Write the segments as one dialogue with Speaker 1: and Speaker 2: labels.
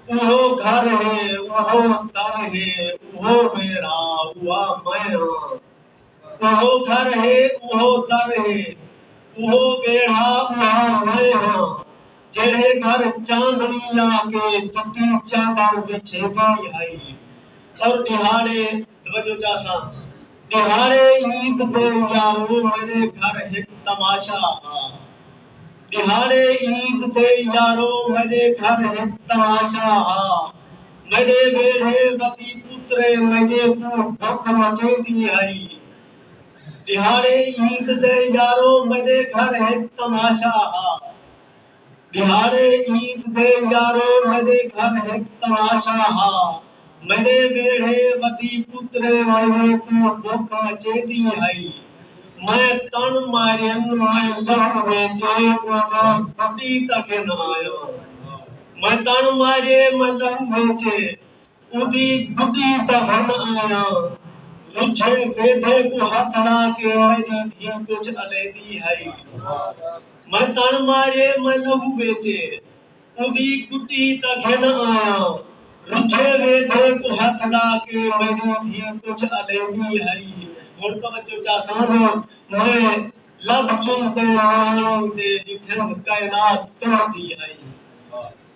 Speaker 1: اوہو گھر ہے اوہو در ہے اوہو میرا اوہا میں ہاں اوہو گھر ہے اوہو در ہے اوہو ویڑھا اوہا میں ہاں جیڑھے گھر چاندنی لا کے تتی چادر وچھے دی آئی اور دہاڑے توجہ چاسا دہاڑے عید دے یارو میرے گھر ہک تماشا ہا ݙیہاڑے عید تے یارو میݙے گھر ہک تماشا ہا میݙے ویڑھے وتی پترے میݙے کوں بکھ مچیندی ہئی ݙیہاڑے عید تے یارو میݙے گھر ہک تماشا ہا ݙیہاڑے عید تے یارو میݙے گھر ہک تماشا ہا میݙے ویڑھے ودی پترے آئیے تاں بکھ اچیندی ہئی۔ میں تݨ ماریم آئے لہر ویچے اوہدا پپیت اگھن آیاں۔ میں تݨ ماریم آئے لہر ویچے اودی پپیت اگھن آیاں۔ رجھے ویدھے کوں ہتھ لا کے آئیدی دھی کجھ الیندی ہئی۔ میں تݨ ماریم آئے لہر ویچے۔ اوندی کٹی تاں گھن آں۔ رجھے ویندھے کوں ہتھ لا کے میڈی دھی کجھ الیندی ہئی۔ ہن توجہ چاساں میں لبھ چن تے نیاݨی دے ݙٹھم کائنات کمبدی ہئی۔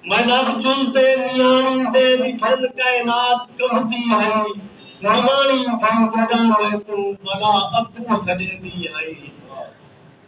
Speaker 1: میں لبھ چن تے نیاݨی دے ݙٹھم کائنات کمبدی ہئی۔ نواݨی دھی جݙاں میکوں بلا ابو سݙیندی ہئی۔